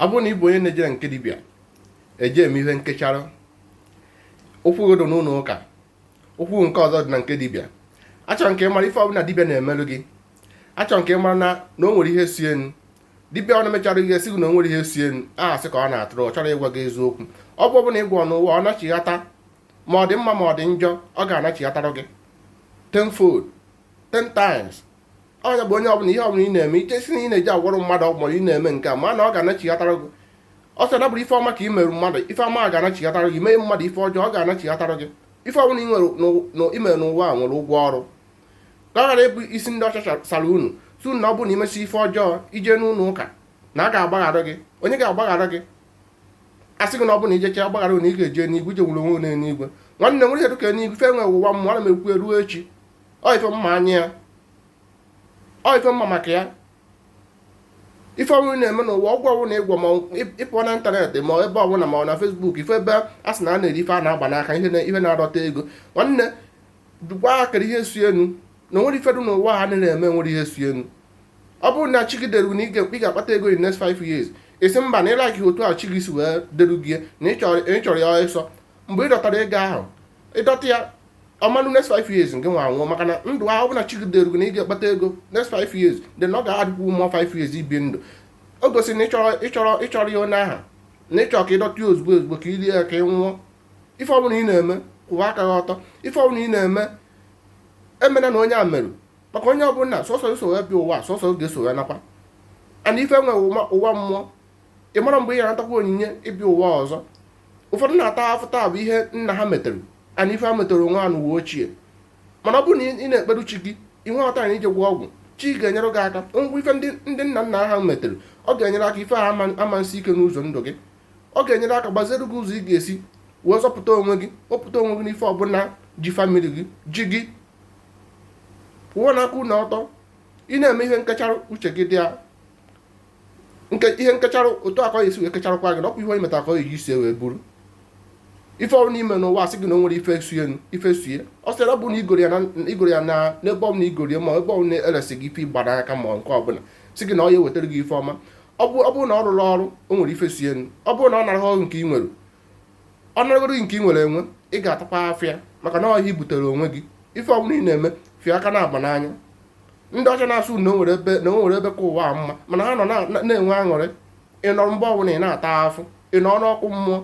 ọ bụrụ na ị bụ onye na-ejere nke dibịa eje eme ihe nkechara ụkwụ gị dị n'ụlọ ụka ụkwụ nke ọzọ dị na nke dibịa achọrọ m ka ị mara ife ọbụla dibịa na-emelụ gị achọrọ m ka ị mara na na o nwere ihe so ya nụ dibịa ọbụna mechara ihe sị gị na o nwerọ ihe so ya nụ asị ka ọ na-atụrụ ọ chọrọ ịgwa gị eziokwu ọgwụ ọbụla ị gwọ n'ụwa ọ nachighata ma ọ dị mma ma ọ dị njọ ọ ga-anachighatara gị tenfold ten times ọ nya bụ onye ọbụla ihe ọbụla ị na-eme ị ka sị na ị na-eje agwọrọ mmadụ ọgwụ maọbụ ị na-eme nke a ma na ọ ga-anachighatara gị ọ sị na bụrụ ife ọma ka ị merụ mmadụ ife ọma ga-anachighatara gị mee mmadụ ife ọjọọ ọ ga-anachighatara gị ife ọbụla i mere n'ụwa a nwere ụgwọ ọrụ ka ọ ghara ịbụ isi ndị ọcha sara unu sị na ọ bụrụ na i mesịa ife ọjọọ i je n'ụlọ ụka na a ga-agbaghara gị onye ga-agbaghara gị a sị gị na ọ bụrụ na i jecha a gbaghara na ị ga-eje n'igwe i je nwere onwe n'eluigwe nwanne o nwerọ ihe dịka eluigwe ife nwere ụwa mmụọ ana m ekwu eruo echi ọ ife m ma anya ya ọ ife m ma maka ya ife ọbụna ị na-eme n'ụwa ọgwụ ọbụna ị gwọ ma ị pụọ na ịntanetị ma ebe ọbụla ma ọ na Facebook ị fụ ebe a sị na a na-ere ife a na-agba n'aka ihe na-adọta ego nwanne dukwa akara ihe so ya nụ na o nwerọ ife dị n'ụwa a na-eme nwerọ ihe so ya nụ ọ bụrụ na chi gị deru na ị ga-akpata ego in next 5 years ị sị mba na ị laiki otu a chi gị si wee deru gị na ị chọrọ ya ọsọ mgbe ị dọtara ego ahụ ị dọta ya ọ ma-eru next five years ngị nwa anwụọ maka na ndụ ahụ bụ na chi gị derugo na ị ga-akpata ego next five years then ọ ga-adịkwu more five years ị bi ndụ o gosiri na ị chọrọ ị chọrọ ị chọrọ ya onye aha na ị chọ ka ị dọta ya ozugbo ozugbo ka i rie ya ka ị nwụọ ife ọbụla ị na-eme kwụwa aka gị ọtọ ife ọbụla ị na-eme emena na onye a merụ maka onye ọbụla sọsọ eso ya bịa ụwa sọsọ ga-eso ya nakwa ana ife nwe ụwa mmụọ ị mara mgbe ị ga-anatakwa onyinye ịbịa ụwa ọzọ ụfọdụ na-ata afụfụ taa bụ ihe nna ha metere na ife ha metere onwe ha n'ụwa ochie mana ọ bụrụ na ị na-ekperu chi gị inwe ọta na ije gwọ ọgwụ chi ga-enyere gị aka ngwa ife ndị nna nna ha metere ọ ga-enyere aka ife ha ama-esi ike n'ụzọ ndụ gị ọ ga-enyere aka gbaziere gị ụzọ ị ga-esi wee zọpụta onwe gị wepụta onwe gị n'ife ọbụla ji famili gị ji gị pụọ n'aka ụlọ ọtọ ị na-eme ihe nkecharụ uche gị dị ya nke ihe nkecharụ otu a ka a ya-esi wee kecharụkwa gị ọkwa ihe onye meta ka ọ ya-eji isi wee buru ife ọbụna i me n'ụwa a sị gị na o nwere ife so ya ife so ya ọ sị na ọ bụ na i goro ya na i goro ya na n'ebe ọbụla i goro ya ma ebe ọbụla e resi gị ife ịgba n'aka ma nke ọbụla sị gị na ọ ya-ewetara gị ife ọma ọ bụ ọ bụrụ na ọ rụrụ ọrụ o nwere ife so ya ọ bụrụ na ọ nara ọrụ nke ị nwere ọ naragoro gị nke ị nwere enwe ị ga-atakwa afụfụ maka na ọ ihe i butere onwe gị ife ọbụla ị na-eme fie aka na-agba n'anya ndị ọcha na-asụ na onwere ebe na onwere ebe ka ụwa a mma mana ha nọ na- na-enwe aṅụrị ị nọ ebe ọbụla ị na-ata afụ ị nọ n'ọkụ mmụọ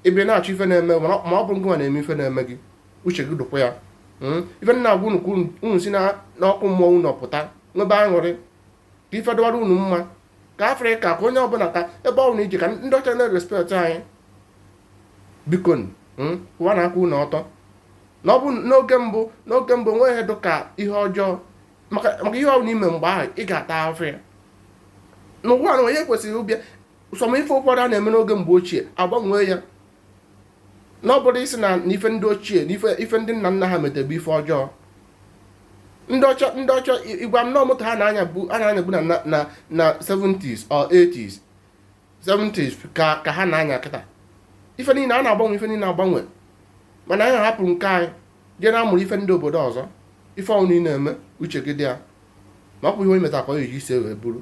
ebe ị na-achọ ife na-eme mana ọ- ma ọ bụrụ gị nwa na-eme ife na-eme gị uche gị dụkwa ya Mm. ife m na-agwa unu ka unu- unu si na- n'ọkụ mmụọ unu pụta nwebe aṅụrị ka ife dụwara unu mma ka afrịka ka onye ọbụla ka ebe ọbụla i je ka ndị ọcha na-respekt anyị bikonu hmm, ụwa na-akwụ unu ọtọ na ọ bụ n'oge mbụ n'oge mbụ nwe ihe dụ ka ihe ọjọọ maka ihe ọbụla i me mgbe ahụ ị ga-ata afụ ya n'ụwa na onye kwesịrị ịbịa some ife ụfọdụ a na-eme n'oge mgbe ochie agbanwee ya na ọ bụrụ ị sị na ife ndị ochie na ife ndị nna nna ha mete bụ ife ọjọọ ndị ọcha ndị ọcha ị gwa m na ọ moto ha na-anyabu a na-anyabu na na 70s or 80s 70s ka ka ha na-anya kịta ife niile a na-agbanwe ife niile agbanwe mana anyị hapụrụ nke anyị jee na-amụrụ ife ndị obodo ọzọ ife ọwụna ị na-eme uche gị dị ya maka ọ bụ ihe onye metara ka ọ ga-eji isi wee buru